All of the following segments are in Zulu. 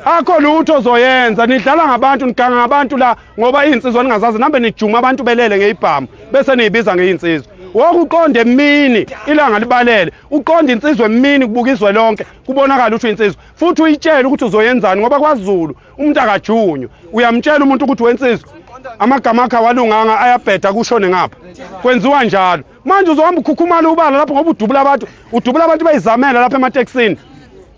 akho lutho ozoyenza nidlala ngabantu niganga ngabantu la ngoba izinsizwa ningazazi nambe nijuma abantu belele ngeyibhamu bese niyibiza ngeyinsizwa woke uqonde emini ilanga libalele uqonde insizwa emini kubuka izwe lonke kubonakala ukuthi insizwa futhi uyitshele ukuthi uzoyenzani ngoba kwaZulu umuntu akajunywa uyamtshela umuntu ukuthi wensizwa amagama akhe awalunganga ayabheda kushone ngapha kwenziwa njalo manje uzohamba ukhukhumala ubala lapho ngoba udubula abantu udubula abantu bayizamela lapha ematekisini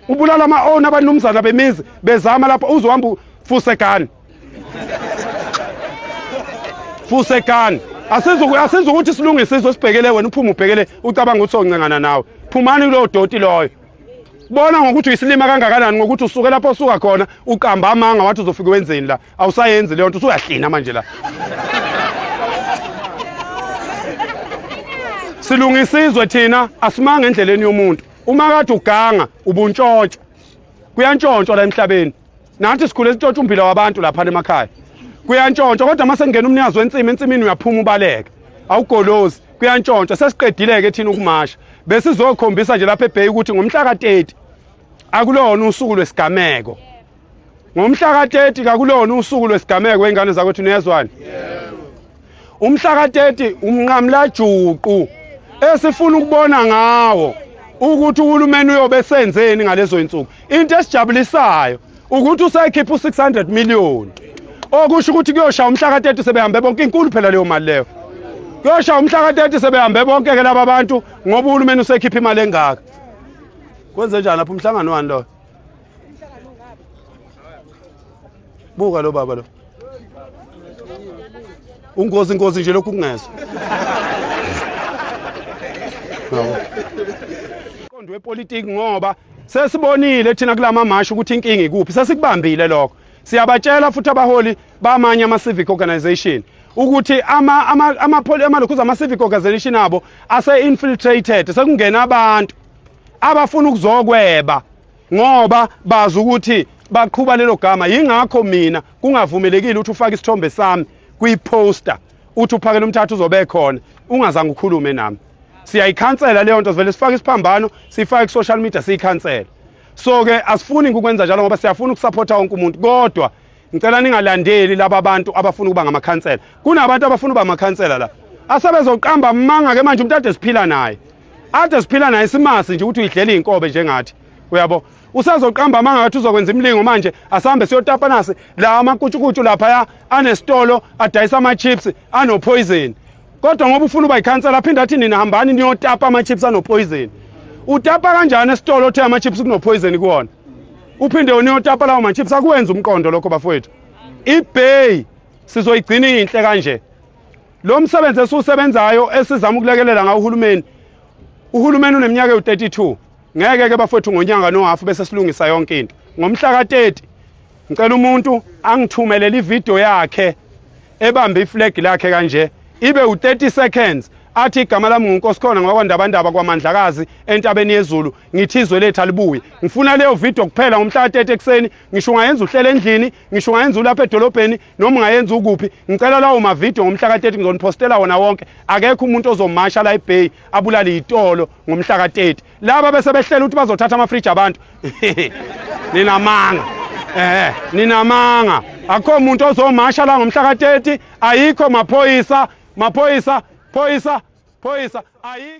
ubulala ama-owner abanumzana bemizi bezama lapho uzohamba fusegani fusegani asizi ukuthi silungise iso sibhekele wena uphume ubhekele ucabanga ukuthi soncengana nawe phumani kulowo doti loyo bona ngokuthi uyisilima kangakanani ngokuthi usuke lapho osuka khona uqamba amanga wathi uzofike wenzeni la awusayenzi leyo nto usuyahlina manje la silungisa izwe thina asimanga endleleni yomuntu uma kade uganga ubuntshontsha kuyantshontshwa la emhlabeni nathi sikhule sintshontsha umbila wabantu lapha emakhaya kuyantshontsha kodwa uma sengena umnikazi wensimi ensimini uyaphuma ubaleke awugolozi kuyantshontsha sesiqedile-ke thina ukumasha besizokhombisa nje lapha ebheyi ukuthi ngomhla ka-30 akulona usuku lwesigameko ngomhla ka-30 kakulona usuku lwesigameko ingane zakwethu niyezwani umhla ka-30 umnqamlajuqu esifuna ukubona ngawo ukuthi uhulumeni uyobe senzeni ngalezo insuku into esijabulisayo ukuthi usekhipha u600 million okusho ukuthi kuyoshaya umhla ka-30 sebehambe bonke inkulu phela leyo mali leyo kuyoshaya umhla ka-30 sebehambe bonke ke laba bantu ngoba uhulumeni usekhipha imali engaka kwenze njani lapho umhlangano wani loyo buka lo baba lo ungozi ingozi nje lokhu kungezwa qondo wepolitiki ngoba sesibonile thina kulama mashi ukuthi inkinga ikuphi sesikubambile lokho siyabatshela futhi abaholi bamanye ama civic organization ukuthi ama ama ama amalokhuza ama civic organization abo ase infiltrated sekungena abantu abafuna ukuzokweba ngoba bazi ukuthi baqhuba lelo gama yingakho mina kungavumelekile ukuthi ufake isithombe sami kwi-poster uthi uphakela umthatha uzobe khona ungazange ukhulume nami siyayikhansela leyo nto sivele sifake isiphambano siyifake ku-social media siyikhansela so-ke asifuni ukwenza njalo ngoba siyafuna ukusapotha wonke umuntu kodwa Ngicela ningalandeli laba bantu abafuna ukuba ngamakhansela. Kunabantu abafuna ukuba amakhansela la. Asebezoqamba amanga ke manje umuntu ade siphila naye. Ade siphila naye simasi nje ukuthi uyidlela izinkobe njengathi. Uyabo? Usazoqamba amanga ngathi uzokwenza imlingo manje asambe siyotapa nasi la amakutshukutshu lapha ya anesitolo adayisa ama chips ano poison. Kodwa ngoba ufuna uba ikhansela aphinde athi nina hambani niyotapa ama chips ano poison. Utapa kanjani esitolo othe ama chips kuno poison kuwona? uphinde uniyotapa lawo machips akuwenza umqondo lokho bafowethu ibay sizoyigcina inhle kanje lo msebenzi esiwusebenzayo esizama ukulekelela ngawo uhulumeni uhulumeni uneminyaka ewu-32 ngeke ke bafowethu ngonyanga nohafu bese silungisa yonke into ngomhla ka-30 ngicela umuntu angithumelele ividiyo yakhe ebambe iflag lakhe kanje ibe u-30 seconds athi igama lami ngunkosikhona ngwakwandabandaba kwamandlakazi entabeni yezulu ngithi izwe lethu alibuye ngifuna leyo video kuphela ngomhla ka-30 ekuseni ngisho ungayenza uhlela endlini ngisho ungayenza ulapha edolobheni noma ungayenza ukuphi ngicela lawo mavidiyo ngomhla ka-30 ngizoniphostela wona wonke akekho umuntu ozomasha la ebay abulale yitolo ngomhla ka-30 laba bese behlela ukuthi bazothatha amafriji abantu ninamanga eh ninamanga akho muntu ozomasha la ngomhla ka-30 ayikho maphoyisa maphoyisa phoyisa phoyisa ayikho